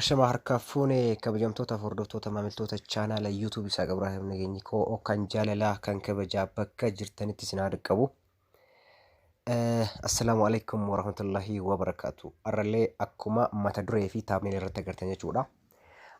Ashamaa harkaa fuune kabajamtoota hordoftoota maamiltoota chaanaala YouTube isaa Ibraahim Nageenyi koo kan jaalalaa kan kabajaa bakka jirtanitti isin haa dhaqqabu. Assalaamu alaikum warahmatullahi wabarakaatu. Arrallee akkuma mata duree fi taabneen irratti agartan jechuudha.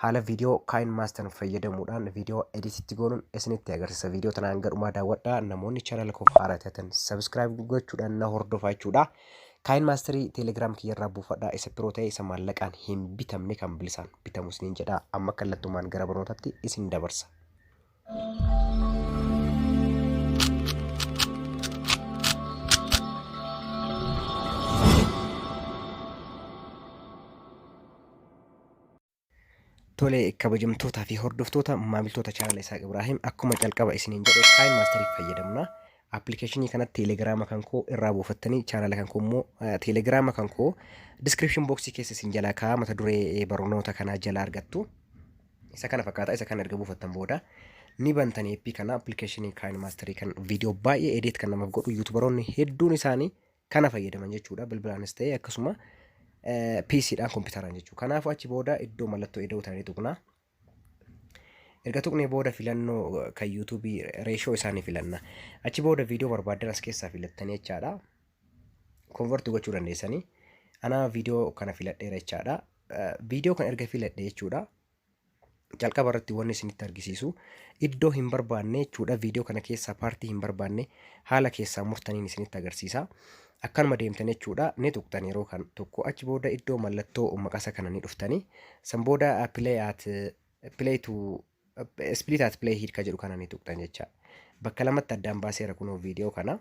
Haala viidiyoo kaayin maastan fayyadamuudhaan viidiyoo edititti goonuun isinitti agarsiisa. Viidiyoo tanaan gadhumaa daawwadhaa. Namoonni chaanaala koof haaraa taatan sabiskiraayib gochuudhaan na hordofaa jechuudha. Kaayin maasterii teelegraam kiyyarraa buufadhaa isa piroo ta'e isa maallaqaan hin bitamne kan bilisaan bitamu isiniin jedhaa amma kallattumaan gara barnootatti isin dabarsa. Tole kabajamtootaa fi hordoftoota maamiltoota chaanala Isaaq Ibraahim akkuma calqaba isiniin jedhe Prime Master fayyadamna. Appilikeeshinii kana teelegiraama kan koo irraa buufattanii chaanala kan koo immoo teelegiraama kan koo diskiripshin booksii keessa isin jalaa kaa'aa mata duree barnoota kanaa jala argattu. Isa kana fakkaata isa kana erga buufattan booda ni bantan eeppii kana appilikeeshinii Prime Master kan viidiyoo baay'ee edeet kan namaaf godhu yuutubaroonni hedduun isaanii kana fayyadaman jechuudha bilbilaanis ta'e akkasuma PC dhaan kompiitaraan jechuudha. Kanaafuu achi booda iddoo mallattoo eda'uu ta'anii tuqna. Erga tuqnee booda filannoo kan YouTube reeshoo isaanii filanna. Achi booda viidiyoo barbaaddan as keessaa filattanii jechaadha. Konvertu gochuu dandeessanii. Anaa viidiyoo kana filadheera jechaadha. Viidiyoo kana erga filadhe jechuudha. jalqaba irratti wanni isinitti argisiisu iddoo hin barbaanne jechuudha viidiyoo kana keessaa paartii hin barbaanne haala keessaa murtaniin isinitti agarsiisa akkanuma deemtan jechuudha ni tuqxan yeroo kan tokko achi booda iddoo mallattoo maqasa kana ni dhuftani san booda play at play to split at play hidka jedhu kana ni tuqxan jecha bakka lamatti addaan baaseera kunoo viidiyoo kana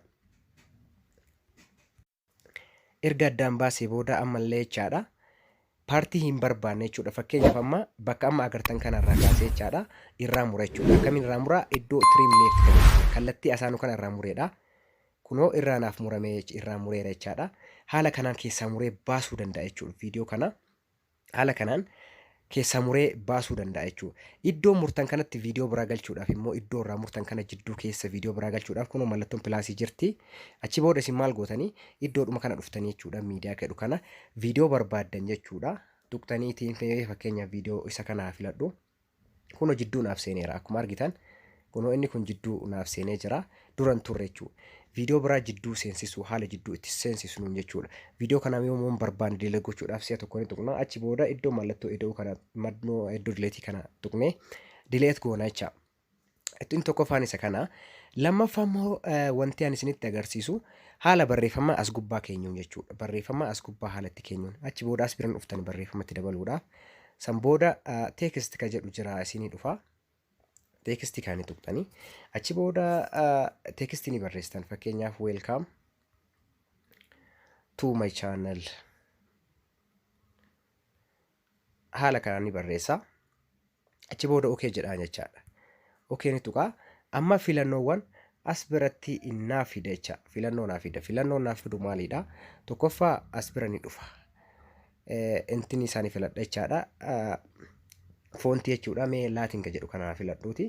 Erga addaan baasee booda ammallee jechaadha. Paartii hin barbaanne jechuudha. Fakkeenyaaf amma bakka amma agartan kanarraa kaasee jechaadha. Irraa mura jechuudha. Akkamiin irraa mura? Iddoo trim left kan jedhu kallattii asaanuu kana irraa mureedha. Kunoo irraa naaf muramee irraa mureera jechaadha. Haala kanaan keessaa muree baasuu danda'a jechuudha. Viidiyoo kana Haala kanaan keessaa muree baasuu danda'a jechuudha. Iddoo murtan kanatti viidiyoo biraa galchuudhaaf immoo iddoo irraa murtan kana jidduu keessa viidiyoo biraa galchuudhaaf kunoo mallattoon pilaasii jirti. Achi booda isin maal gootanii iddoodhuma kana dhuftanii jechuudha miidiyaa jedhu kana viidiyoo barbaaddan jechuudha. Tuqtanii ittiin fakkeenyaaf viidiyoo isa kana filadhu. Kunoo jidduu naaf seeneera akkuma argitan kunoo inni kun jidduu naaf seenee jira duran turre jechuudha. Viidiyoo biraa jidduu seensisuu haala jidduu itti seensisnuun jechuudha. Viidiyoo kana yommuu barbaanne dileet gochuudhaaf si'a tokko ni tuqna achi booda iddoo mallattoo ida'uu kana madnoo iddoo dileetii kana tuqnee dileet goona jecha. Ittiin tokkoffaan isa kana. Lammaffaa immoo wanti ani isinitti agarsiisu haala barreeffama as gubbaa keenyuun jechuudha. Barreeffama as gubbaa haala itti keenyuun. Achi booda as biran dhuftani barreeffama itti dabaluudhaaf. San booda teekist ka jedhu jira isinii dhufa. Teekistii kaanii tuqxani. Achi booda teekistii ni barreessitan. Fakkeenyaaf weelkaam to my channel. Haala kanaan ni barreessa. Achi booda OK jedhaan jechaadha. OK ni tuqaa. Amma filannoowwan as biratti naa fida jecha. Filannoo naa fida. Filannoon naa fidu maalidha? Tokkoffaa as bira ni dhufa. Eh, Intini isaanii filadha jechaadha. Ah, Foontii jechuudha mee laatiin ka jedhu kana haa filadhuuti.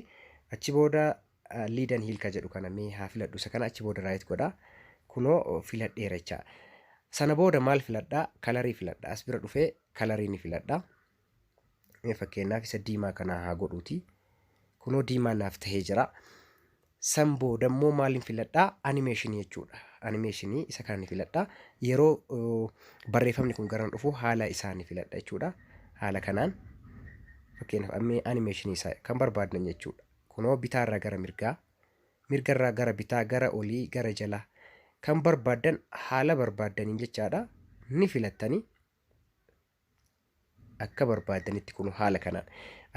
Achi booda ah, liidan hiil ka jedhu kana mee haa filadhu. Isa kana achi booda raayit godha. Kunoo filadheera jecha. Sana booda maal filadha? Kalarii filadha. As bira dhufee kalarii ni filadha. fakkeenyaaf isa diimaa kanaa haa godhuuti kunoo diimaa naaf tahee jira san booda immoo maaliin filadhaa animeeshinii jechuudha animeeshinii isa kana ni filadhaa yeroo uh, barreeffamni kun garan dhufu haala isaa ni filadha jechuudha haala kanaan fakkeenyaaf ammee animeeshinii isaa kan barbaadnan jechuudha kunoo bitaarraa gara mirgaa mirgarraa gara bitaa gara olii gara jalaa kan barbaaddan haala barbaaddaniin jechaadha ni filattanii akka barbaadanitti kun haala kanaan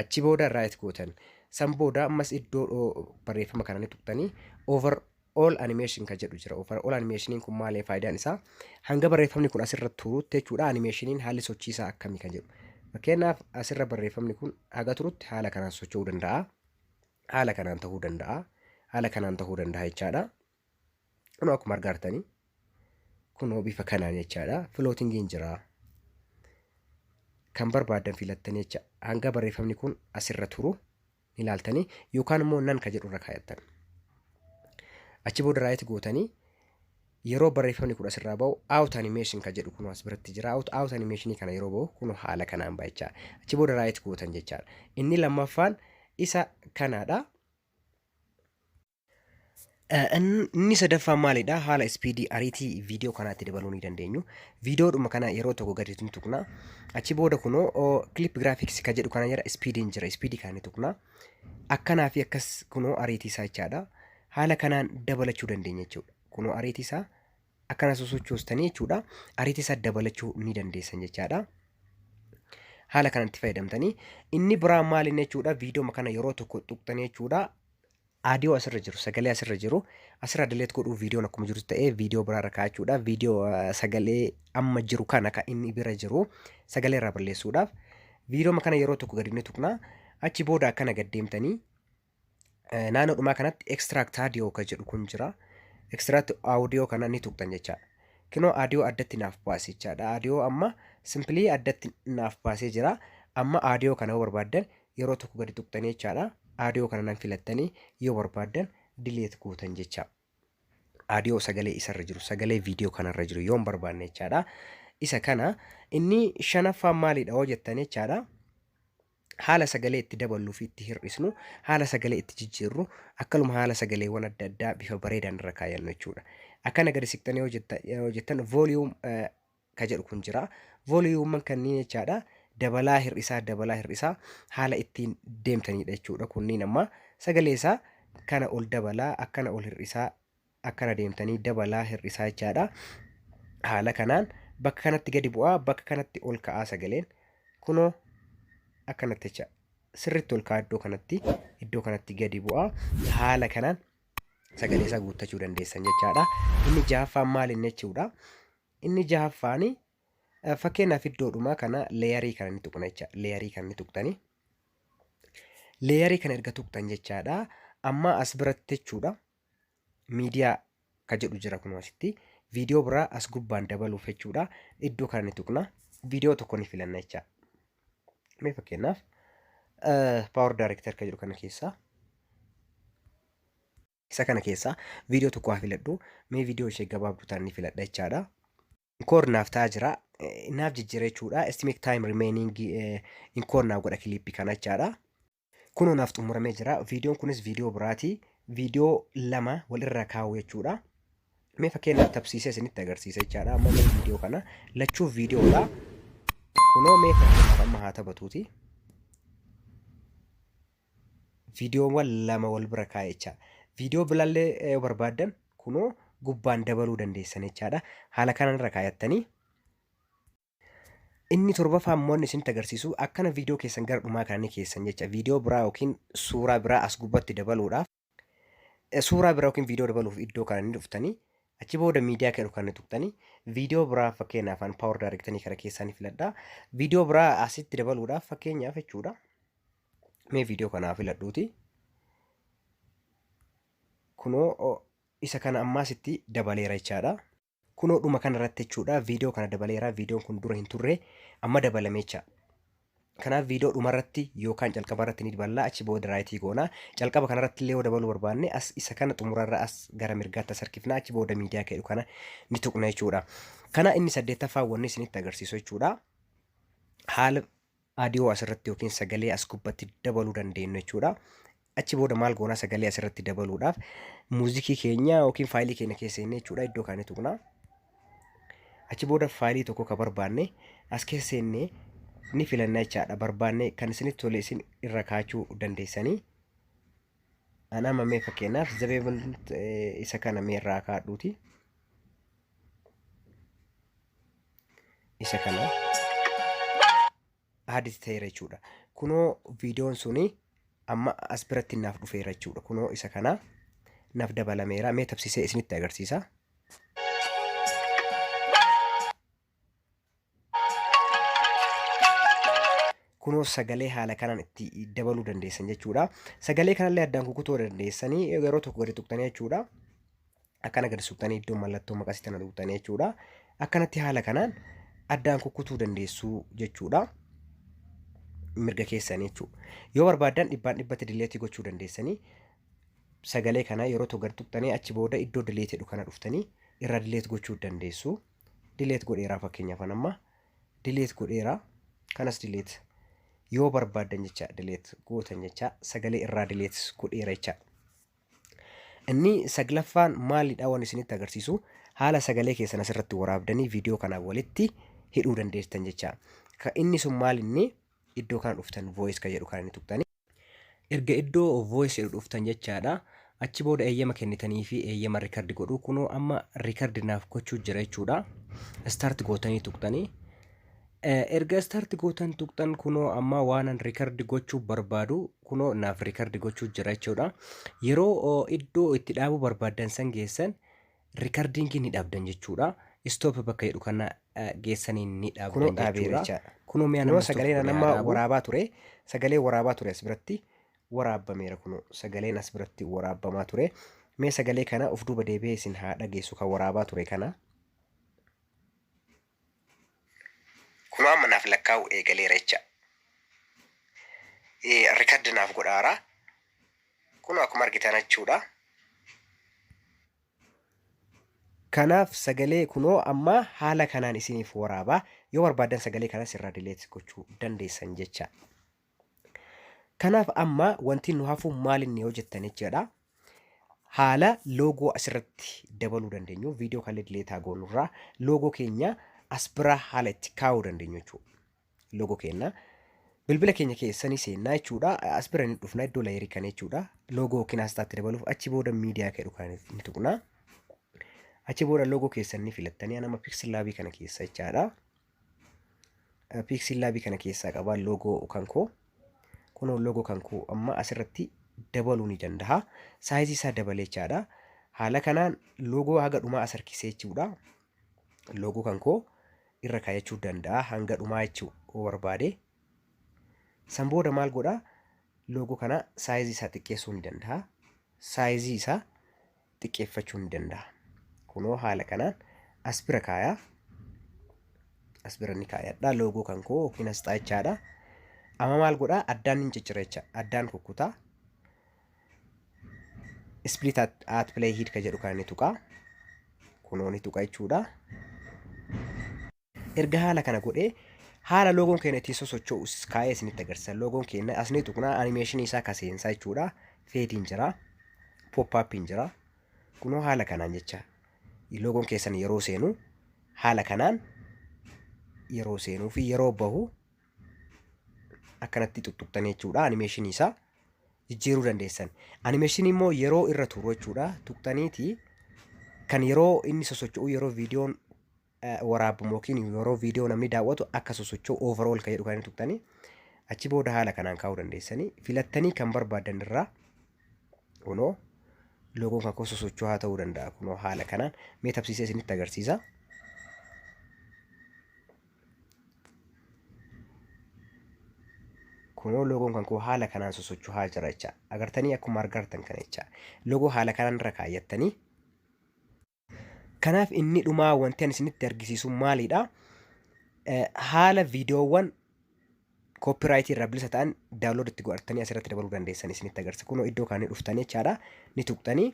achi booda raayit gootan san booda ammas iddoo barreeffama kana ni tuqtanii over all animation kan jedhu jira over all animationiin kun maalee faayidaan isaa hanga barreeffamni kun asirra turutti jechuudha animationiin haalli sochii isaa akkamii kan jedhu fakkeenyaaf asirra barreeffamni kun haga turutti haala kanaan socho'uu danda'a haala kanaan ta'uu danda'a haala kanaan ta'uu danda'a jechaadha. Kunoo akkuma argaa jirtanii kunoo bifa kanaan jechaadha. Filootingiin jira. Kan barbaadan filattanii jecha hanga barreeffamni kun asirra turu ni ilaaltanii yookaan immoo nan ka jedhu irra kaayattan. Achi booda raayit gootanii yeroo barreeffamni kun asirraa ba'u out animation ka jedhu kunoo as biratti jira. Out, out animation kana yeroo ba'u kunoo haala kanaan ba'a jechaadha. Achi booda raayit gootan jechaadha. Inni lammaffaan isa kanaadha. Eh, in- Inni sadaffaan maalidha? Haala ispiidii ariitii viidiyoo kanaatti dabaluu ni dandeenyu. Viidiyoodhuma kana yeroo tokko gadi ni tuqna. Achi booda kunoo oo, clip graphics ka jedhu kana jira ispiidiin jira ispiidii kana ni tuqna. Akkanaa fi akkas kunoo ariitii isaa jechaadha. Haala kanaan dabalachuu dandeenya jechuudha. Kunoo ariitii isaa akkana sosochoostanii jechuudha. Ariitii isaa dabalachuu ni dandeessan jechaadha. haala kanatti fayyadamtanii inni biraa maal inni jechuudha viidiyooma kana yeroo tokko tuqxanii jechuudha Aadiyoo asirra jiru, sagalee asirra jiru asirraa delete godhuu viidiyoon akkuma jirutti ta'ee viidiyoo biraarra kaa'achuudha. Viidiyoo eh, sagalee amma jiru kana kan inni bira jiru sagalee irraa balleessuudhaaf viidiyooma kana yeroo tokko gadi ni tuqna. Achi booda akkana gad deemtanii eh, naannoo dhumaa kanatti extract audio kan jedhu kun jira. Extract audio kana ni tuqxan jecha. Kinoo audio addatti naaf baase jechaadha. Audio amma simply addatti naaf baasee jira. Amma audio kana yoo barbaaddan yeroo tokko gadi tuqxanii jechaadha audio kana nan filattanii yoo barbaaddan delete gootan jecha audio sagalee isarra jiru sagalee video kanarra jiru yoon barbaanne jechaadha isa kana inni shanaffaan maalidha yoo jettan jechaadha haala sagalee itti daballuu fi itti hir'isnu haala sagalee itti jijjiirru akkanuma haala sagaleewwan adda addaa bifa bareedaan irra kaayannu jechuudha. Akkana gadi siqxanii yoo jetta- yoo jettan volume eh, ka jedhu kun jira. Voliyuumman kanniin jechaadha. Dabalaa hir'isaa dabalaa hir'isaa haala ittiin deemtaniidha jechuudha. Kunniin amma sagalee isaa kana ol dabalaa akkana ol hir'isaa akkana deemtanii dabalaa hir'isaa jechaadha. Haala kanaan bakka kanatti gadi bu'aa bakka kanatti ol ka'aa sagaleen kunoo akkanatti jecha sirriitti ol ka'aa iddoo kanatti iddoo kanatti gadi bu'aa haala kanaan sagalee isaa guuttachuu dandeessan jechaadha. Inni jahaffaan maal inni jechuudha. Inni jahaffaan fakkeenyaaf iddoodhuma kana leeyarii kana ni tuqna jecha leeyarii kana ni tuqtani. Leeyarii kana erga tuqtan jechaadha. Amma as biratti jechuudha miidiyaa ka jedhu jira kun asitti viidiyoo biraa as gubbaan dabaluuf jechuudha iddoo kana ni tuqna viidiyoo tokko ni filanna jecha. Mee fakkeenyaaf paawar daarektar ka jedhu kana keessaa Isa kana keessaa viidiyoo tokko haa filadhu. Mee viidiyoo ishee gabaabduu ta'an ni filadha jechaadha. Inkoor naaf ta'aa jira. Eh, Naaf jijjiira jechuudha. Estimate time remaining eh, inkoor naaf godha kiliippii kana jechaadha. Kunoo naaf xumuramee jira. Viidiyoon kunis viidiyoo biraati. Viidiyoo lama walirra kaa'u jechuudha. Mee fakkeenyaaf tabsiisee isinitti agarsiisa jechaadha. Amma mee viidiyoo kana lachuu viidiyoodha. Kunoo mee fakkeenyaaf amma haa taphatuuti. viidiyoowwan lama wal bira kaa'e jecha viidiyoo biraallee yoo barbaaddan kunoo gubbaan dabaluu dandeessan jechaadha haala kanarra kaayattanii inni torbaffaa immoo inni isinitti agarsiisu akkana viidiyoo keessan gara dhumaa kana ni keessan jecha viidiyoo biraa yookiin suuraa biraa as gubbatti dabaluudhaaf suuraa biraa yookiin viidiyoo dabaluuf iddoo kana ni dhuftanii achi booda miidiyaa kan kan tuqtanii viidiyoo biraa fakkeenyaaf afaan paawar daarektanii kana keessaa ni filadhaa viidiyoo biraa asitti dabaluudhaaf fakkeenyaaf jechuudha mee viidiyoo kanaa filadhuuti kunoo isa kana ammaasitti dabaleera jechaadha. Kunoo dhuma kana irratti jechuudha viidiyoo kana dabaleera viidiyoon kun dura hin turre amma dabalame jecha. Kanaaf viidiyoo dhuma irratti yookaan calqaba irratti ni daballa achi booda raayitii goona. Calqaba kana irratti illee yoo dabaluu barbaanne as isa kana xumura irra as gara mirgaatti as harkifna achi booda miidiyaa ka'u kana ni tuqna jechuudha. Kana inni saddeettaffaa wanni isinitti agarsiisu jechuudha. Haala audio asirratti yookiin sagalee as gubbatti dabaluu dandeenyu jechuudha. Achi booda maal goonaa sagalee asirratti dabaluudhaaf muuzikii keenya yookiin faayilii keenya keessa seennee jechuudha iddoo kaanii tuqnaa. Achi booda faayilii tokko ka barbaanne as keessa seennee ni filanna jechaadha barbaanne kan isinitti tole isin irra kaachuu dandeessanii. An amma mee fakkeenyaaf zabeebal isa kana mee irraa kaadhuuti. Isa kana aadis ta'eera jechuudha. Kunoo viidiyoon suni amma as biratti naaf dhufeera jechuudha. Kunoo isa kana naaf dabalameera. Mee tabsisee isinitti agarsiisa. kunoo sagalee haala kanaan itti dabaluu dandeessan jechuudha. Sagalee kanallee addaan kukutuu dandeessanii yeroo tokko gadi tuqxanii jechuudha. Akkana gadi tuqxanii iddoo mallattoo maqasii tana tuqxanii jechuudha. Akkanatti haala kanaan addaan kukutuu dandeessuu jechuudha. Mirga keessanii jechuudha. Yoo barbaaddan dhibbaan dhibbatti dileetii gochuu dandeessanii sagalee kana yeroo tokko gadi tuqxanii achi booda iddoo dileetii jedhu kana dhuftanii irraa dileet gochuu dandeessu. dileet godheeraa fakkeenyaaf an amma dileet godheeraa kanas dileet yoo barbaaddan jecha dileet gootan jecha sagalee irraa dileet godheera jecha inni saglaffaan maalidha waan isinitti agarsiisu haala sagalee keessan asirratti waraabdanii viidiyoo kanaa walitti hidhuu dandeessan jecha inni sun maal inni iddoo kana dhuftan voice ka jedhu kan inni tuqtanii Erga iddoo voice jedhu dhuftan jechaadha. Achi booda eeyyama kennitanii fi eeyyama record godhu. Kunoo amma record naaf gochuu jira jechuudha. Start gootanii tuqxanii. Eh, Erga start gootan tuqxan kunoo amma waanan record gochuu barbaadu kunoo naaf record gochuu jira jechuudha. Yeroo oh, iddoo itti dhaabuu barbaaddan san geessan Rikardiin kee ni dhaabdan jechuudha. Stop bakka jedhu kana geessanii ni dhaabdan jechuudha. Kunoo mi'a nama sagalee na nama waraabaa ture. Sagalee waraabaa ture as biratti waraabbameera kunoo sagaleen as biratti waraabbamaa ture. Mee sagalee kana of duuba deebi'ee isin haa dhageessu kan waraabaa ture kana. Kunoo amma naaf lakkaa'uu eegaleera jecha. Record naaf godhaara. Kunoo akkuma argitan jechuudha. Kanaaf sagalee kunoo amma haala kanaan isiniif waraaba. Yoo barbaaddan sagalee kanas irraa delete gochuu dandeessan jecha. Kanaaf amma wanti nu hafu maal inni yoo jettan jechaadha. Haala loogoo asirratti dabaluu dandeenyu viidiyoo kan dileetaa goonurraa loogoo keenya as biraa haala itti kaa'uu dandeenyu jechuudha. Loogoo keenya bilbila keenya keessa ni seennaa jechuudha. As bira ni dhufna iddoo layerii kana jechuudha. Loogoo yookiin asxaatti dabaluuf achi booda miidiyaa jedhu kana ni tuqna. Achi booda loogoo keessan ni filattanii anama piksel laabii kana keessa jechaadha. piiksii laabii kana keessaa qaba loogoo kan koo kunoo loogoo kan koo amma asirratti dabaluu ni danda'a saayizii isaa dabalee jechaadha haala kanaan loogoo haga dhumaa as harkisee jechuudha loogoo kan koo irra kaayachuu danda'a hanga dhumaa jechuu yoo barbaade san booda maal godha loogoo kana saayizii isaa xiqqeessuu ni danda'a saayizii isaa xiqqeeffachuu ni danda'a. Kunoo haala kanaan as bira kaayaa. As bira ni kaayadha. Loogoo kan koo yookiin asxaa jechaadha. Amma maal godhaa? Addaan ni ciccira jecha. Addaan kukkutaa. Split at, at play hid ka jedhu kana ni tuqaa. Kunoo ni tuqa jechuudha. Erga haala kana godhee haala loogoon keenya ittiin sosocho'u kaa'ee isinitti agarsiisa. Loogoon keenya asni tuqnaa animeeshinii isaa kaseensaa jechuudha. Feediin jira. Pooppaappiin jira. Kunoo haala kanaan jecha loogoon keessan yeroo seenu haala kanaan yeroo seenuu fi yeroo bahu akkanatti tuttuqxanii jechuudha. Animeeshinii isaa jijjiiruu dandeessan. Animeeshinii immoo yeroo irra turu jechuudha. Tuqxaniiti kan yeroo inni sosocho'u yeroo viidiyoon waraabbamu yookiin yeroo viidiyoo namni daawwatu akka sosocho'u overall kan jedhu kan inni tuqxanii achi booda haala kanaan kaa'uu dandeessanii filattanii kan barbaadan irraa kunoo loogoon kan koo sosocho'aa ta'uu danda'a kunoo haala kanaan mee tabsiisee isinitti agarsiisa. kunoo loogoon kan koo haala kanaan sosocho'aa jira jecha agartanii akkuma argartan kana jecha loogoo haala kanaan irra kaayyattanii Kanaaf inni dhumaa wanti ani isinitti argisiisu maalidha? Eh, Haala viidiyoowwan koopiraayitii irraa bilisa ta'an daawunlood itti godhattanii asirratti dabaluu dandeessan isinitti agarsiisa. Kunoo iddoo kana ni dhuftanii jechaadha. Ni tuqxanii.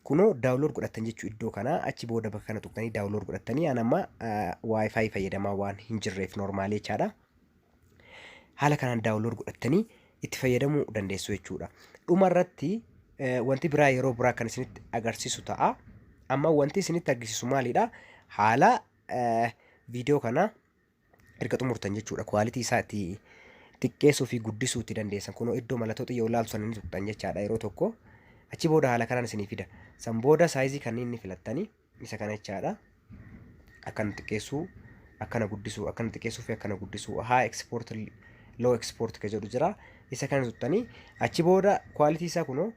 Kunoo daawunlood godhattan jechuu iddoo kana achi booda bakka kana tuqxanii daawunlood godhattanii an amma wifi fayyadamaa waan hin jirreef noormaalii jechaadha. haala kanaan daawunlood godhattanii itti fayyadamuu dandeessu jechuudha. Dhuma irratti wanti biraa yeroo biraa kan isinitti agarsiisu ta'a. Amma wanti isinitti agarsiisu maalidha? Haala viidiyoo kana erga xumurtan jechuudha. Kwaalitii isaa itti xiqqeessuu fi guddisuu itti dandeessan. Kunoo iddoo mallattoo xiyya ol'aantu sana ni tuqxan jechaadha yeroo tokko. Achi booda haala kanaan isinii fida. San booda saayizii kanneen ni filattanii. isa kana jechaadha. Akkana xiqqeessuu, akkana guddisuu, akkana xiqqeessuu fi akkana guddisuu. Haa export, low export ka jedhu jira. Isa kana tuttanii achi booda quality isaa kunoo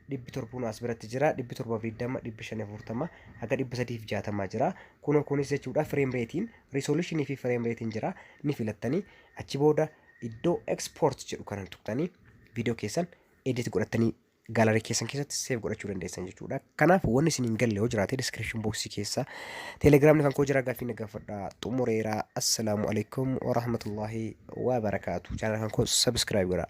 dhibbi torbuun as biratti jira. Dhibbi torbaaf digdama, dhibbi shan afurtama, haga dhibba sadiif jaatama jira. Kunoo kunis jechuudha frame ratein, resolution fi frame ratein jira. Ni filattanii achi booda iddoo export jedhu kana tuttanii viidiyoo keessan edit godhattanii gallery keessan keessatti save godhachuu dandeessan jechuudha. Kanaaf wanni isin hin galle yoo jiraate description box keessa telegram kan koo jira gaaffii na gaafadha xumureera. Assalaamu alaikum wa rahmatullahi wa barakaatu. Channel kan koo subscribe godhaa.